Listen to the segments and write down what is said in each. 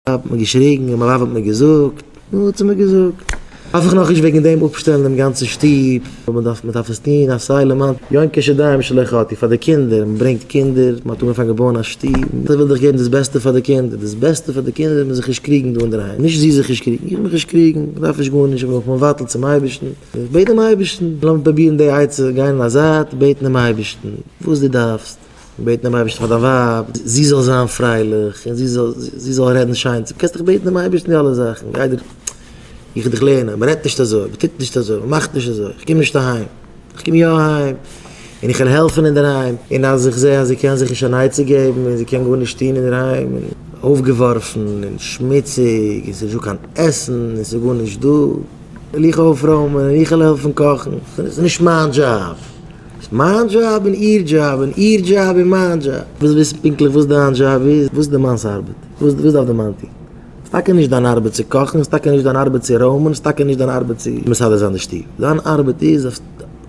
האט מען געשריגן און מיין ווייב האט מיר געזאגט, נו וואט האט מען געזאגט? דארף איך נאך נישט וועגן דעם אפשטעלן דעם גאנצן שטוב, מען דארף מען דארף עס טון אויף סיי למען יונקי שדים שלא חטאו, פאר די קינדער, מען ברענגט קינדער, מען האט אנגעפאנגען בויען א שטוב, מען וויל דאך געבן דאס בעסטע פאר די קינדער, דאס בעסטע פאר די קינדער איז מען זיך נישט קריגן דא אינדערהיים, נישט זי זיך נישט קריגן, איך מיך נישט קריגן, מען דארף נישט גארנישט, מען זאל זיך מבטל צום אייבערשטן, איך בעט דעם אייבערשטן, לאמיר פרובירן די עצה גיין אין א זייט, בעטן דעם אייבערשטן וואס דו דארפסט. און בעטן דעם אייבערשטן פאר דיין ווייב, זי זאל זיין פרייליך, און זי זאל רעדן שיין צו, קענסט דאך בעטן דעם אייבערשטן די אלע זאכן, גיי דיר, איך וועל דיך לערנען, מען רעדט נישט אזוי, מען טוט נישט אזוי, מען מאכט נישט אזוי, איך קום נישט אהיים, איך קום יא אהיים, און איך וועל העלפן אינדערהיים, און אז איך זע אז זי קען זיך נישט אן עצה געבן, און זי קען גארנישט טון אינדערהיים, און אויפגעווארפן, און שמוציג, און ס'איז נישטא קיין עסן, און ס'איז גארנישט דא, וועל איך אויפרוימען, און איך וועל העלפן קאכן, ס'איז נישט מיין דזשאב. מיין דזשאב און איר דזשאב, און איר דזשאב און מיין דזשאב. ווילסט וויסן פונקטליך וואס דיין דזשאב איז? וואס איז די מאנ'ס ארבעט? וואס וואס דארף די מאן טון? ס'איז טאקע נישט דיין ארבעט צו קאכן, ס'איז טאקע נישט דיין ארבעט צו רוימען, ס'איז טאקע נישט דיין ארבעט צו מסדר זיין די שטוב. דיין ארבעט איז זאלסט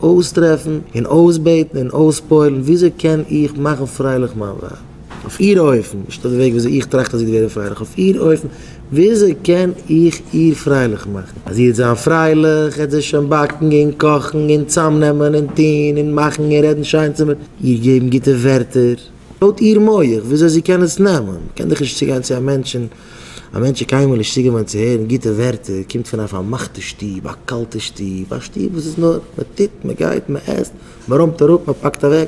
אויסטרעפן און אויסבעטן און אויספועל'ן וויאזוי קען איך מאכן פרייליך מיין ווייב? אויף איר אופן, נישט אויף די וועג וויאזוי איך טראכט אז זי וועט ווערן פרייליך, אויף איר אופן. וויאזוי קען איך איר פרייליך מאכן? אז זי העט זיין פרייליך, העט זי שוין באקן און קאכן און צאמנעמען און טון און מאכן און רעדן שיין צו מיר, איר געבן גוטע ווערטער, לויט איר מח וויאזוי זי קען עס נעמען. קען דאך נישט צוגיין צו א מענטש און א מענטש איז קיינמאל נישט צוגעוואינט צו הערן גוטע ווערטער, קומט פון א פארמאכטע שטוב, א קאלטע שטוב, א שטוב וואס איז נאר, מען טוט, מען גייט, מען עסט, מען רוימט אראפ, מען פאקט אוועק.